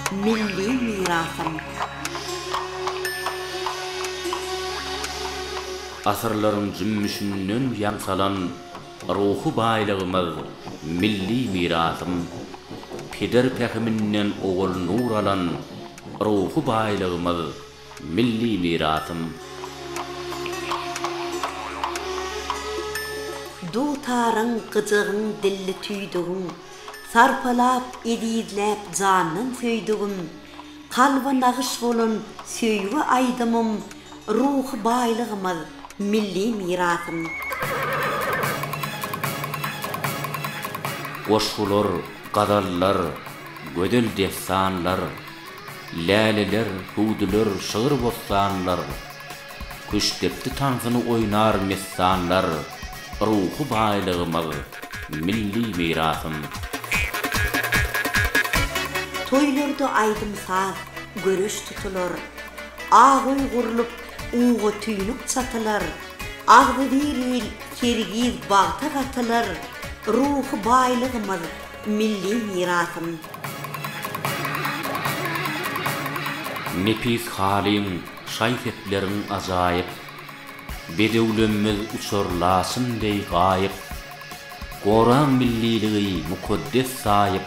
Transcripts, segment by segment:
Milli mirasym. Asyrlaryň jümmüşinden ýaň salan ruhy baýlygymyz, milli mirasym. Peder pähiminden owal nur alan ruhy baýlygymyz, milli mirasym. Dutaryň, gyjagyň, dilli tüýdügiň, Sarpalap, ezizläp jandan söýdügim, Kalba nagyş bolan söýgi aýdymym, Ruhy baýlygymyz, milli mirasym. Goşgular, gazallar, gözel dessanlar, Läleler, hüwdüler, şygyr-bossanlar, Küştdepdi tansyny oýnar messanlar, Ruhy baýlygymyz, milli mirasym. Toýlarda aýdym-saz, göreş tutular, Ak öý gurlup, uga tüýnük çatylar, Agzybir il, kergiz bagta gatylar, Ruhy baýlygymyz, milli mirasym. Nepis halyň, Şaý-sepleriň ajaýyp. Bedewlemmiz uçar laçyn deý gaýyp. Goraň milliligi mukaddes saýyp,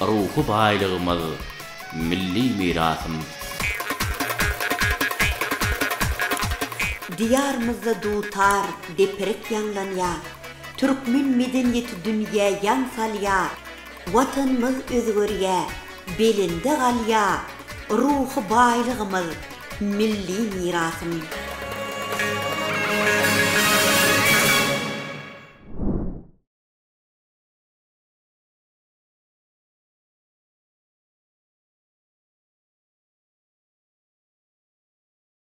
Ruhy baýlygymyz, milli mirasym. Diýarymyzda dutar, deprek ýaňlanýar, Türkmen medeniýeti dünýä ýaň salýar. Watanymyz özgerýär, belende galýar ruhy baýlygymyz, milli mirasymyz.